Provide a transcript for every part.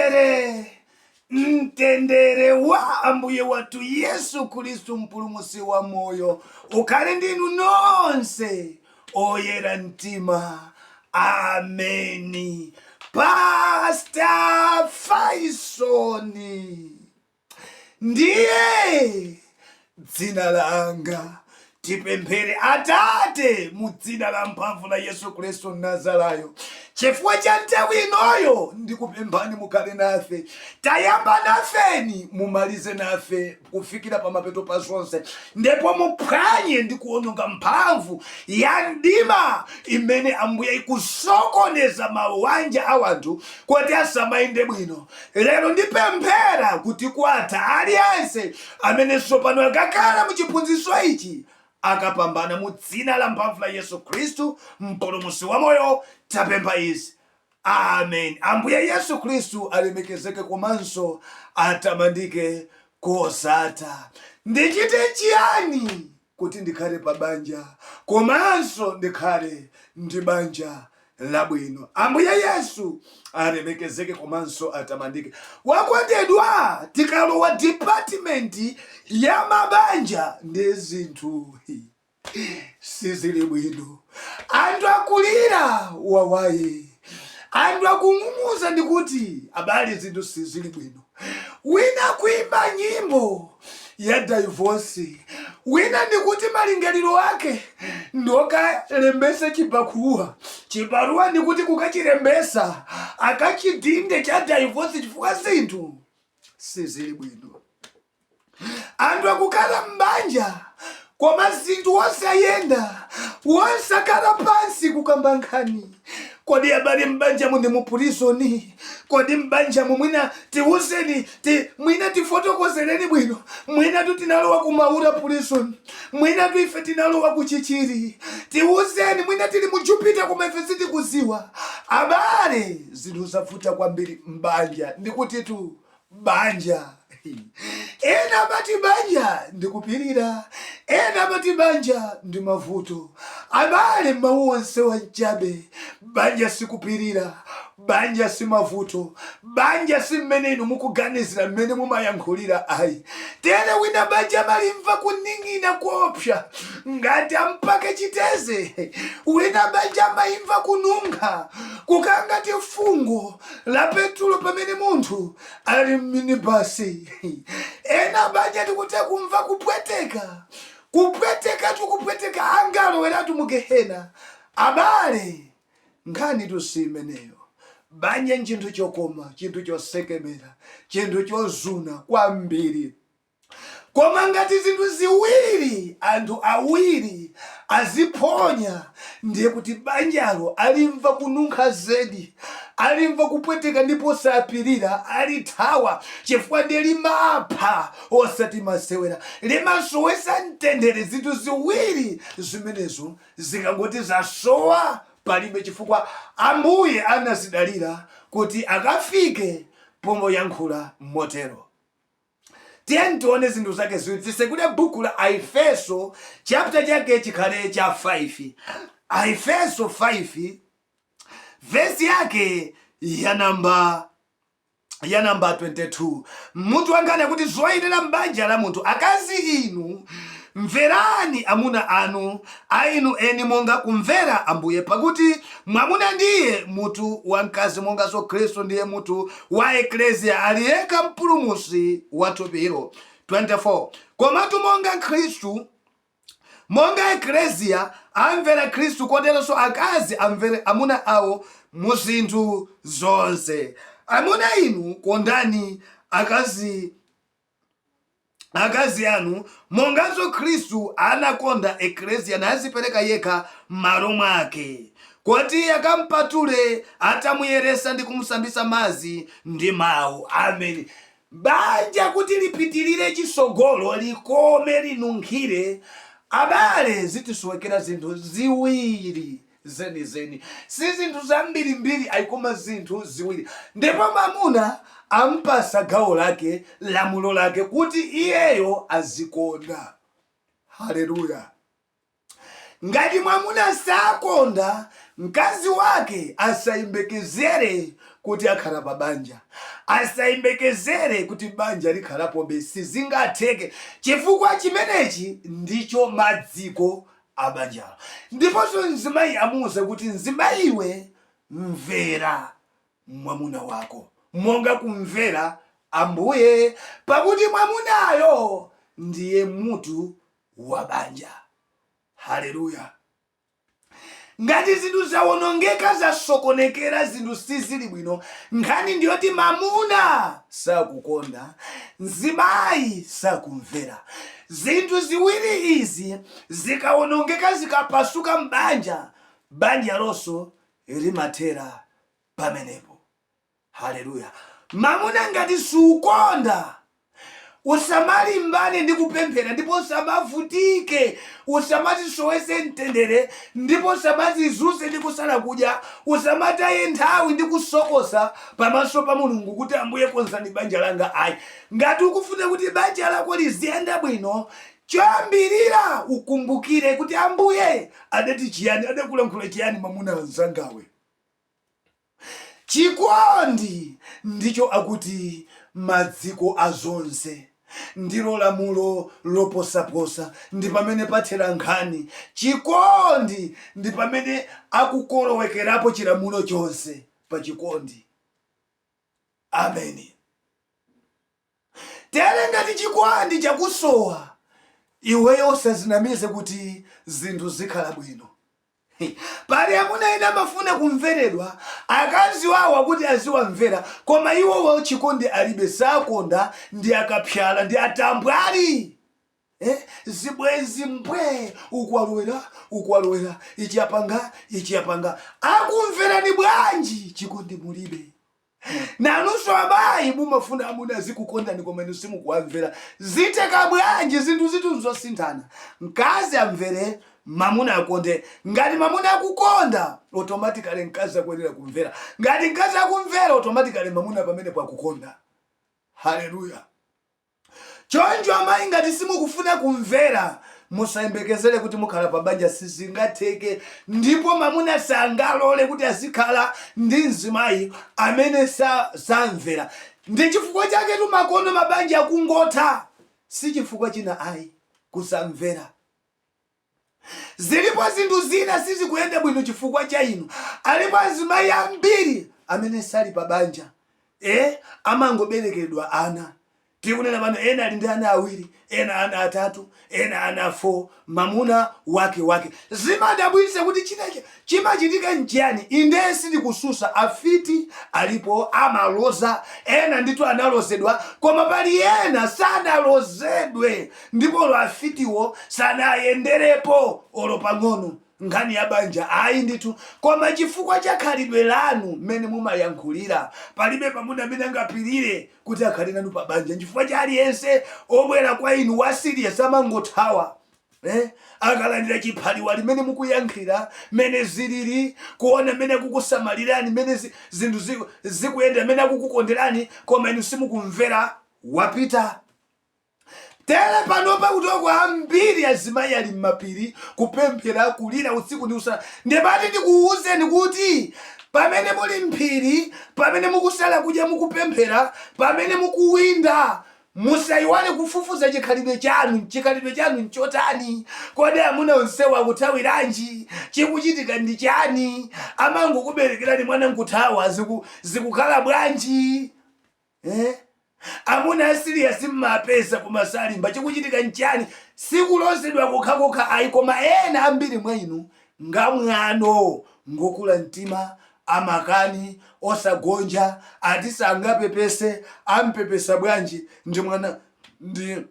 Mtendere, mtendere wa Ambuye wathu Yesu Khristu, mpulumutsi wa moyo, ukhale ndi inu nonse oyera mtima. Ameni. Pastor Faisoni. Ndiye dzina langa tipemphere atate mu dzina la mphamvu la yesu khristu mnazarayo chifukwa cha nthawi inoyo ndikupemphani mukhale nafe tayamba nafeni mumalize nafe kufikira pamapeto pa zonse ndipo muphwanye ndi kuononga mphamvu ya mdima imene ambuye ikusokoneza mawanja a wanthu kuti asamayende bwino Lero ndipemphera kuti kwa aliyense amene tsopano akakhala mu chiphunzitso ichi akapambana mu dzina la mphamvu la Yesu Khristu mpulumutsi wa moyo tapempha izi. Amen. Ambuye Yesu Khristu alemekezeke komanso atamandike kosatha. Ndichite chiyani? kuti ndikhale pa banja komanso ndikhale ndi banja labwino. Ambuye Yesu alemekezeke komanso atamandike. Wakondedwa, tikalowa department ya mabanja ndiye zinthu sizili bwino. Anthu akulira wawaye, anthu akung'ung'udza ndikuti abale zinthu sizili bwino. wina kuimba nyimbo ya daivosi wina ndikuti malingaliro ake ndi okalembesa chibakuwa chibaruwa ndikuti kukachilembesa akachidinde cha daivosi chifukwa zinthu sizili bwino Anthu akukhala m'banja koma zinthu wosayenda, wosakhala pansi kukamba nkhani. Kodi abale m'banjamu ndi mu prison? Kodi m'banjamu mwina tiuzeni ti, mwina tifotokozereni bwino. Mwinatu tinalowa ku Maula prison, mwinatu ife tinalowa ku Chichiri. Tiuzeni mwina tili mu jupita koma ife sitikudziwa. Abale zinthu zavuta kwambiri m'banja ndikutitu banja. Ena amati banja ndi kupirira, ena amati banja ndi mavuto. Abale, mawu onse wanchabe. Banja sikupirira, banja si mavuto, banja si mmene inu mukuganizira, mmene mumayankhulira ayi. Tere wina banja amalimva kuning'ina kuopsa ngati wampaka chiteze, wina banja amalimva kununkha kukangati fungo. la petulo pamene munthu ali mminibasi ena banja tikutha kumva kupweteka kupweteka tikupweteka angaloweratu mu gehena abale nkhanitu si imeneyo banja nchinthu chokoma chinthu chosekemera chinthu chozuna kwambiri Koma ngati zinthu ziwiri, anthu awiri, aziphonya, ndiye kuti banjalo alimva kununkha zedi, alimva kupweteka ndipo sapirira, alithawa, chifukwa ndiye limapha osati masewera, limasowetsa mtendere. Zinthu ziwiri zimenezo zikangoti zasowa, palibe chifukwa Ambuye anazidalira kuti akafike poyankhula motero. Tiyeni tione zinthu zake ziwiri. Titsekule buku la Aefeso, chapter chake chikhale cha 5. Aefeso 5, vesi yake ya namba ya namba 22 mutu wanga ndi wakuti zoyenera m'banja la munthu akazi inu mverani amuna anu a inu eni monga kumvera ambuye pakuti mwamuna ndiye mutu wa mkazi monganso khristu ndiye mutu wa Eklesia ali yekha Mpulumutsi wa thupilo, 24 komatu monga Khristu, monga Eklesia amvera Khristu, koteronso akazi amvere amuna ao mu zinthu zonse. Amuna inu, kondani akazi akazi anu, monganso Khristu anakonda Eklesia, nazipereka yekha m'malo mwake, koti akampatule, atamuyeresa ndi kumsambisa mazi ndi mau. Ameni. Banja kuti lipitilire chisogolo, likome, linunkhire, abale, zikusowekera zinthu ziwiri. zenizeni. Si zinthu zambirimbiri ayi koma zinthu ziwiri. Ndipo mwamuna amupatsa gawo lake, lamulo lake kuti iyeyo azikonda. Haleluya. Ngati mwamuna sakonda, mkazi wake asayembekezere kuti akhala pa banja. Asayembekezere kuti banja likhalapobe, sizingatheke chifukwa chimenechi ndicho maziko a banjalo. Ndiponso mzimayi amuuza kuti, Mzimayi iwe, mvera mwamuna wako monga kumvera Ambuye, pakuti mwamunayo ndiye mutu wa banja. Haleluya! Ngati zinthu zawonongeka, zasokonekera, zinthu sizili bwino, nkhani ndi yoti mwamuna sakukonda, mzimayi sakumvera. Zinthu ziwiri izi zikawonongeka, zikapasuka m'banja, banjalonso limathera pamenepo. Haleluya! Mamuna ngati sukonda, usamalimbane ndi kupemphera ndipo usamavutike, usamazisowetse mtendere ndipo usamazizunze ndi kusala kudya, usamataye nthawi ndi kusokosa pamaso pa Mulungu kuti Ambuye konzani banja langa ayi. Ngati ukufuna kuti banja lako liziyenda bwino, choyambirira ukumbukire kuti Ambuye adati chiyani, adakulankhula chiyani mwamuna mzangawe? Chikondi ndicho akuti madziko a zonse, ndilo lamulo loposaposa, ndi pamene pathera nkhani. Chikondi ndi pamene akukolowekerapo chilamulo chonse, pa chikondi. Ameni. Tere ngati chikwandi chakusowa, iweyo usazinamize kuti zinthu zikhala bwino. Pali amuna ena amafuna kumveredwa, akazi wawo akuti aziwamvera, koma iwowo chikondi alibe, sakonda ndi akapsala ndi atambwali. Eh, zibwenzi mbwee uku alowera uku alowera ichi apanga ichi apanga akumverani bwanji chikondi mulibe nanunso amayi mumafuna amuna azikukondani koma inu simukuwamvera ziteka bwanji zinthu zithu nzosinthana mkazi amvere mamuna akonde ngati mamuna akukonda automatically mkazi akuyenera kumvera ngati mkazi akumvera automatically mamuna pamenepo akukonda haleluya Choncho amayi ngati simukufuna kumvera musayembekezere kuti mukhala pa banja sizingatheke ndipo mamuna sangalole kuti azikhala ndi mzimayi amene samvera ndi chifukwa chaketu makono mabanja akungotha sichifukwa china ayi kusamvera. Zilipo zinthu zina sizikuyenda bwino chifukwa cha inu. Alipo azimayi ambiri amene sali pa banja, eh, amangoberekeredwa ana. Tikunena pano, ena ali ndi ana awiri, ena ana atatu, ena ana 4, mamuna wake, wake. Zimadabwitsa kuti china, Chimachitika nchiyani? Indee, sindikususa, afiti alipo, amaloza, ena ndithu analozedwa, koma pali ena sanalozedwe ndipo olo afitiwo sanayenderepo olo pang'ono nkhani ya banja ayi ndithu, koma chifukwa cha khalidwe lanu mmene mumayankhulira, palibe mamuna amene angapirire kuti akhale nanu pabanja nchifukwa cha aliyense obwera kwa inu wa serious amangothawa. eh? akalandira chiphaliwali mmene mukuyankhira mene zilili kuona mene akukusamalirani mene zinthu zikuyendera mene akukukonderani koma inu simukumvera wapita tere panopa kuti oko ambiri azimayi ali m'mapiri kupemphera kulira usiku ndi usana ndimati ndikuwuzeni kuti pamene muli mphiri pamene mukusala kudya mukupemphera pamene mukuwinda Musaiwale kufufuza chikhalidwe chanu. Chikhalidwe chanu nchotani? Kodi amuna onsewa akuthawiranji? Chikuchitika ndi chani? Amangokuberekerani mwana nkuthawa? Ziku zikukhala bwanji? Eh? Amuna a serious mmawapeza koma salimba. Chikuchitika nchani? Sikulozedwa kokhakokha ayi koma ena ambiri mwa inu ngamwano, ngokula mtima, Amakani osagonja ati sangapepese ampepese bwanji ndi mwana ndi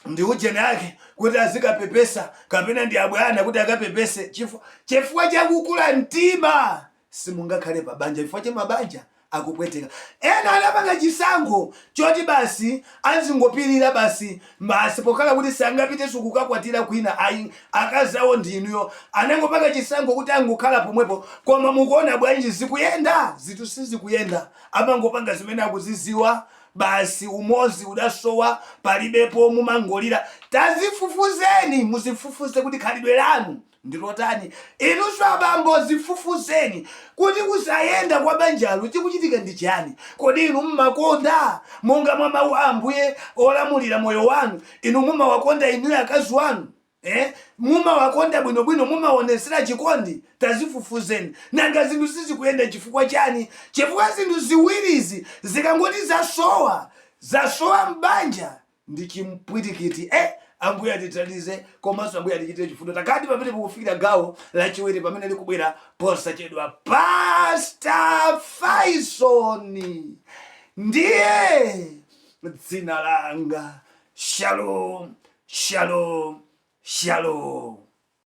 ndi ujeni ake kuti azikapepesa kapena ndi abwana kuti akapepese chifu chifukwa chakukula mtima simungakhale pa banja chifukwa cha mabanja akupweteka ena anapanga chisankho choti basi azingopirira basi basi pokhala kuti sangapitenso kukakwatira kwina ayi akazi awo ndi inuyo anangopanga chisankho kuti angokhala pomwepo koma mukuona bwanji zikuyenda? zinthu sizikuyenda amangopanga zimene akuziziwa basi umodzi udasowa palibepo mumangolira tazifufuzeni muzifufuze kuti khalidwe lanu ndilotani? Inunso abambo zifufuzeni kuti kusayenda kwa banjalo chikuchitika ndi chani. Kodi inu mmakonda, monga mwa mau a Ambuye olamulira moyo wanu, inu mumawakonda inuyo akazi wanu? Eh? Mumawakonda bwino bwino, mumawonesera chikondi? Tazifufuzeni. Nanga zinthu sizikuyenda chifukwa chani? Chifukwa zinthu ziwirizi zikangoti zasowa, zasowa mbanja ndi chipwirikiti eh ambuye atithandize komanso ambuye atichitire chifundo tikadzapite pokufikirani gawo lachiwiri pamene likubwera posachedwapa pasta faisoni ndiye dzina langa shalom shalom shalom